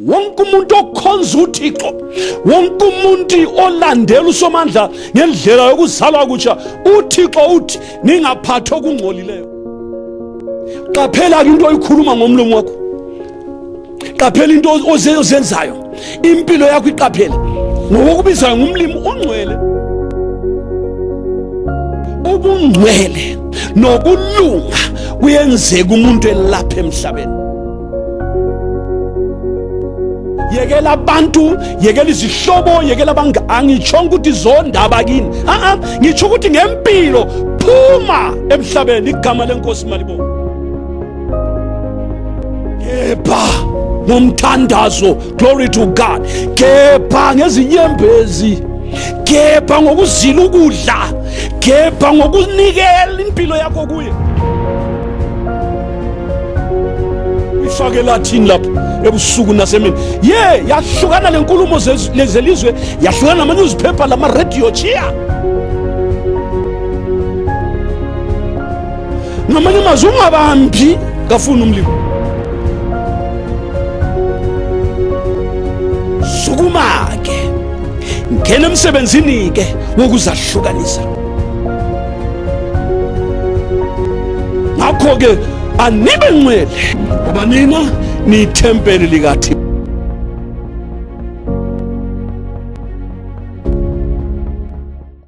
wonke umuntu okhonza uthixo wonke umuntu olandela usomandla ngendlela yokuzalwa kutsha uthixo uthi ningaphathi okungcolileyo qaphela-ke into oyikhuluma ngomlomo wakho qaphela into ozenzayo impilo yakho iqaphele ngokokubizayo ngumlimi ungcwele ubungcwele nokulunga kuyenzeka umuntu elapha emhlabeni yekela abantu yekela izihlobo yekela abanga angitshongo ukuthi zondaba kini a-a ngitsho ukuthi ngempilo phuma emhlabeni igama lenkosi malibo kepha ngomthandazo glory to god kepha ngezinyembezi kepha ngokuzila ukudla kepha ngokunikela impilo yakho kuye ifake lathini lapho ebusuku nasemini ye yahlukana lenkulumo zelizwe yahlukana nama-newspaper lama-radio chiya ngamanye amazwi ungabambi kafuni umlimo sukuma-ke ngena emsebenzini-ke wokuzahlukanisa ngakho-ke anibe ngcwele ngoba nina niyithempeli likathixo